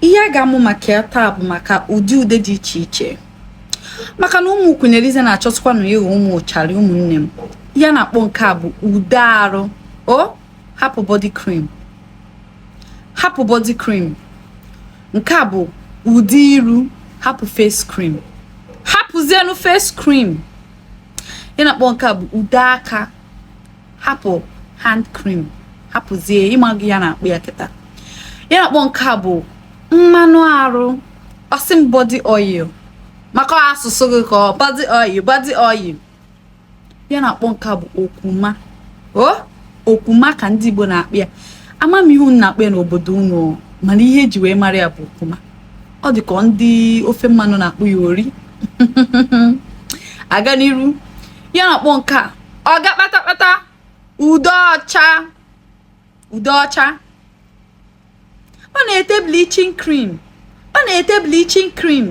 ihe a ga-amụ maka ya taa bụ maka ụdị ude dị iche iche maka na ụmụ Queen Eliza na-achọtụkwanụ ịghọ ụmụ ụcharị ụmụnne m ya na-akpọ nke a bụ ude arụ o hapụ body cream hapụ body cream nke a bụ ude iru hapụ face cream hapụzienu face cream ya na-akpọ nke a bụ ude aka hapụ hand cream hapụzie ị mago ya na-akpọ ya kịta ya na-akpọ nke a bụ mmanụ arụ ọ sị m body oil maka asụsụ gị ka ọ body oil body oil ya na-akpọ nke a bụ okwuma o okwuma ka ndị Igbo na-akpọ ya ama m ihe unu na-akpọ ya n'obodo unu mana ihe e ji wee mara ya bụ okwuma ọ dị ka ndị ofe mmanụ na-akpọ ya ori a gaa n'iru ya na-akpọ nke a ọga kpatakpata ude ọcha ude ọcha ọ na-ete bleaching cream ọ na-ete bleaching cream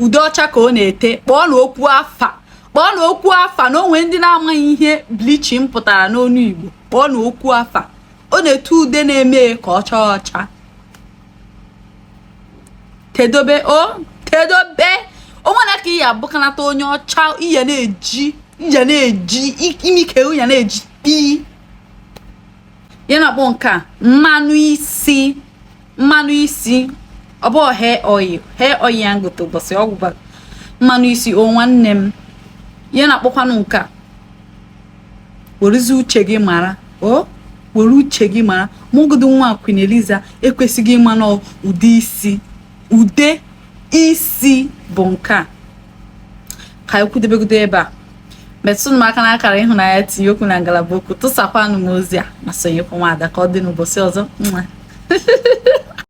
ude ọcha ka ọ na-ete kpọọnụ okwu afa kpọọnụ okwu afa na o nwere ndị na-amaghị ihe bleaching pụtara n'ọnụ Igbo kpọọnụ okwu afa ọ na-ete ude na-eme ka ọ chaa ọcha tedobe o tedobe o nwere ka ị ya abụkanata onye ọcha i ya na-eji i ya na-eji imi ka ya na-eji pii ya na-akpọ nke a mmanụ isi mmanụ isi ọ bụ hair oil hair oil ya na-egote ụbọchị ọ gwụ mmanụ isi o nwanne m ya na-akpọkwanụ nke a werezi uche gị mara o were uche gị mara ma ọgodo nwa Queen Eliza ekwesigo ịma na ude isi ude isi bụ nke a ka anyị kwudebegodo ebe a metụnụ m aka n'akara ịhụnanya tinye okwu na ngalaba okwu tụsakwanụ m ozi a ma sonyekwa nwaada ka ọ dị n'ụbọchị ọzọ